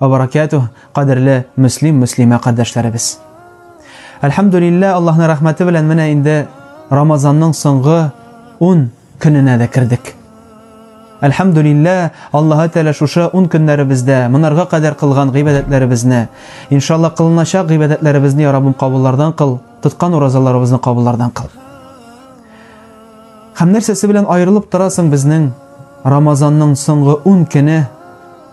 Ва баракятуһ, кадерле мөслим, мөслимә кардәшләребез. Әлхәмдүлиллә, Аллаһның рәхмәте белән менә инде Рамазанның соңгы 10 көненә дә кердек. Әлхәмдүлиллә, Аллаһы Тәгалә шушы 10 көннәребездә монарга кадәр кылган гыйбадәтләребезне, иншалла кылыначак гыйбадәтләребезне я Раббым кабуллардан кыл, тоткан уразаларыбызны кабуллардан кыл. Һәм нәрсәсе белән аерылып торасың безнең Рамазанның соңгы 10 көне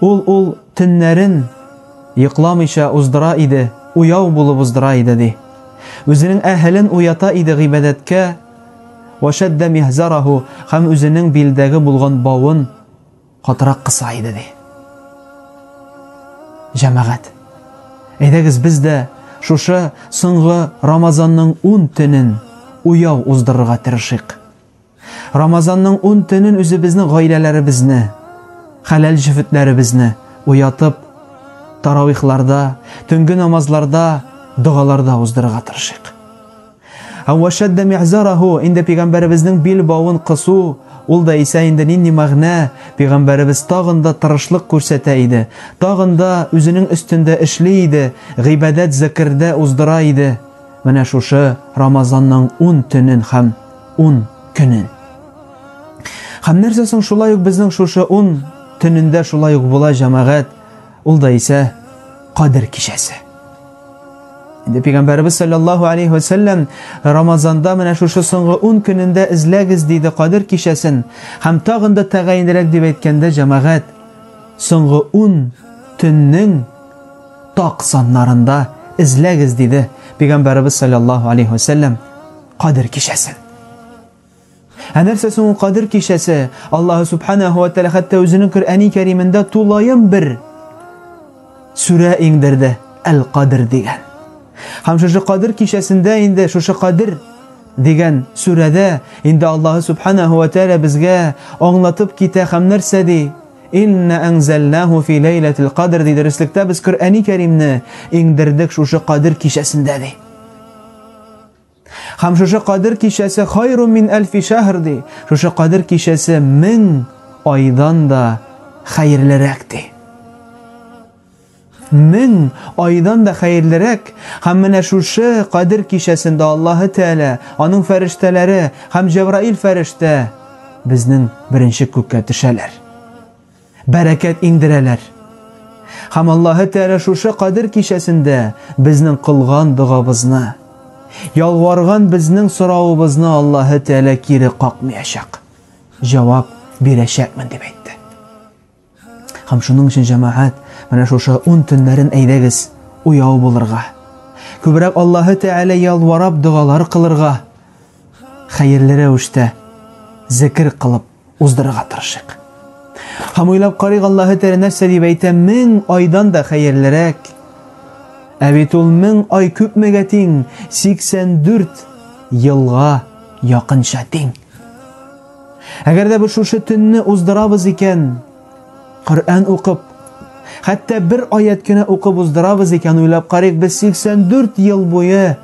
Ул ул төннәрен йокламыйча уздыра иде, уяу булып уздыра иде, ди. Үзенең әһелен уята иде гыйбадәткә, Вәшәддә михзараху, һәм үзенең билдәге булган бавын катырак кыса иде, ди. Җәмәгать, әйдәгез без дә шушы соңгы Рамазанның ун төнен уяу уздырырга тырышыйк. Рамазанның ун төнен үзебезнең гаиләләребезне, хәләл җефетләребезне уятып, таравихларда, төнге намазларда, догаларда уздырырга тырышыйк. Әвәшәддә ми'зараху, инде пигамбәребезнең бил бавын кысу, ул да исә инде нинди мәгънә, пигамбәребез тагын да тырышлык күрсәтә иде, тагын да үзенең өстендә эшли иде, гыйбадәт зәкердә уздыра иде. Менә шушы Рамазанның ун төнен һәм ун көнен. Хәм нәрсә соң шулай ук безнең шушы ун төнендә шулай ук була җәмәгать, ул да исә кадер кичәсе. Инде пигамбәрбез саллаллаһу алейхи ва сәлләм Рамазанда менә шушы соңгы 10 көнендә эзләгез диде кадер кичәсен. Хәм тагын да тәгаенрәк дип әйткәндә җәмәгать соңгы 10 төннең так саннарында эзләгез диде пигамбәрбез саллаллаһу алейхи ва сәлләм. Кадер кичәсе. Ә нәрсә соң Кадер кичәсе? Аллаһ субханаһу ва тааля хәтта үзенең Коръәни Кәримендә тулаем бер сүрә иңдерде, Әл-Кадр дигән. Һәм шушы Кадер кичәсендә инде шушы Кадер дигән сүрәдә инде Аллаһ субханаһу ва тааля безгә аңлатып китә һәм нәрсә ди? Инна анзалнаху фи лейлатил кадр ди дәреслектә без Коръәни Кәримне иңдердек шушы Кадер кичәсендә ди. Хәм шушы кадер кичәсе хайру мин әлфи шәһр ди. Шушы кадер кичәсе мең айдан да хәерлерәк ди. Мең айдан да хәерлерәк. Хәм менә шушы кадер кичәсендә Аллаһы Тәгалә, аның фәрештәләре һәм Җәбраил фәрештә безнең беренче күккә төшәләр. Бәрәкәт иңдерәләр. Һәм Аллаһы Тәгалә шушы Кадер кичәсендә безнең кылган догабызны, ялварган безнең соравыбызны Аллаһы Тәгалә кире какмыячак, җавап бирәчәкмен, дип әйтте. Һәм шуның өчен, җәмәгать, менә шушы ун төннәрен әйдәгез, уяу булырга, күбрәк Аллаһы Тәгалә ялварап догалар кылырга, хәерле рәвештә зекер кылып, уздырырга тырышыйк. Һәм уйлап карыйк, Аллаһы Тәгалә нәрсә дип әйтә, мең айдан да хәерлерәк. Ә бит ул мең ай күпмегә тиң? 84 елга якынча тиң. Әгәр дә без шушы төнне уздырабыз икән, Коръән укып, хәтта бер аять кенә укып уздырабыз икән, уйлап карыйк, без 84 ел буе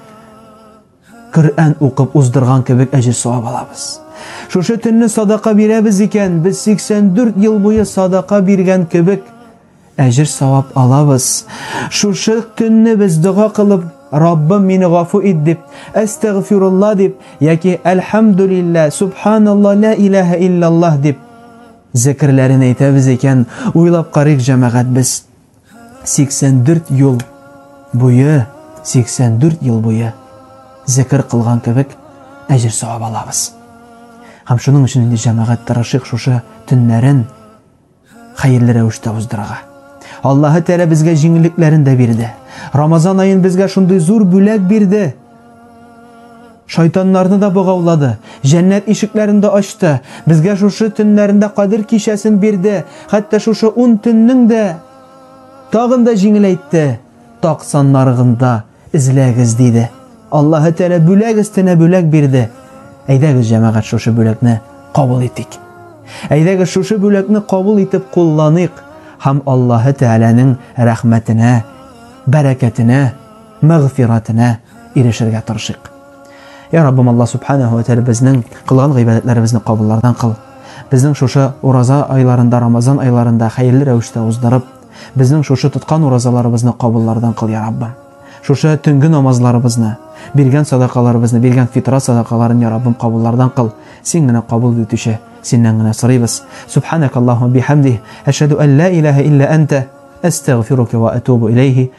Коръән укып уздырган кебек әҗер-савап алабыз. Шушы төнне садака бирәбез икән, без 84 ел буе садака биргән кебек әҗер-савап алабыз. Шушы төнне без дога кылып, Раббым мине гафу ит дип, әстәгъфирулла дип яки әлхәмдүлиллә, субханалла, ла илаһа иллаллаһ дип зекерләрен әйтәбез икән, уйлап карыйк, җәмәгать, без 84 ел буе, 84 ел буе зәкер кылган кебек әҗер савап алабыз. Һәм шуның өчен инде җәмәгать тырышык шушы төннәрен хәерле рәвештә уздырырга. Аллаһы Тәгалә безгә җиңеллекләрен дә бирде. Рамазан аен безгә шундый зур бүләк бирде. Шайтаннарны да богаулады, җәннәт ишекләрен дә ачты, безгә шушы төннәрендә Кадер кичәсен бирде, хәтта шушы ун төннең дә тагын да җиңеләйтте, так саннарыгнда эзләгез, диде. Аллаһы Тәгалә бүләк өстенә бүләк бирде. Әйдәгез, җәмәгать, шушы бүләкне кабул итик. Әйдәгез, шушы бүләкне кабул итеп кулланыйк һәм Аллаһы Тәгаләнең рәхмәтенә, бәрәкәтенә, мәгъфирәтенә ирешергә тырышыйк. Я Раббым Аллаһ Субханәһу ва Тәгалә безнең кылган гыйбадәтләребезне кабуллардан кыл. Безнең шушы ураза айларында, Рамазан айларында хәерле рәвештә уздырып, безнең шушы тоткан уразаларыбызны кабуллардан кыл, Я Раббым. Шушы төнге намазларыбызны, биргән садакаларыбызны, биргән фитра садакаларын, Я Раббым, кабуллардан кыл. Син генә кабул итүче, Синнән генә сорыйбыз. Субханәк Аллаһумма бихәмдих, әшһәду ан ла илаһа илля әнтә, әстәгъфирука ва атубу иләйһи.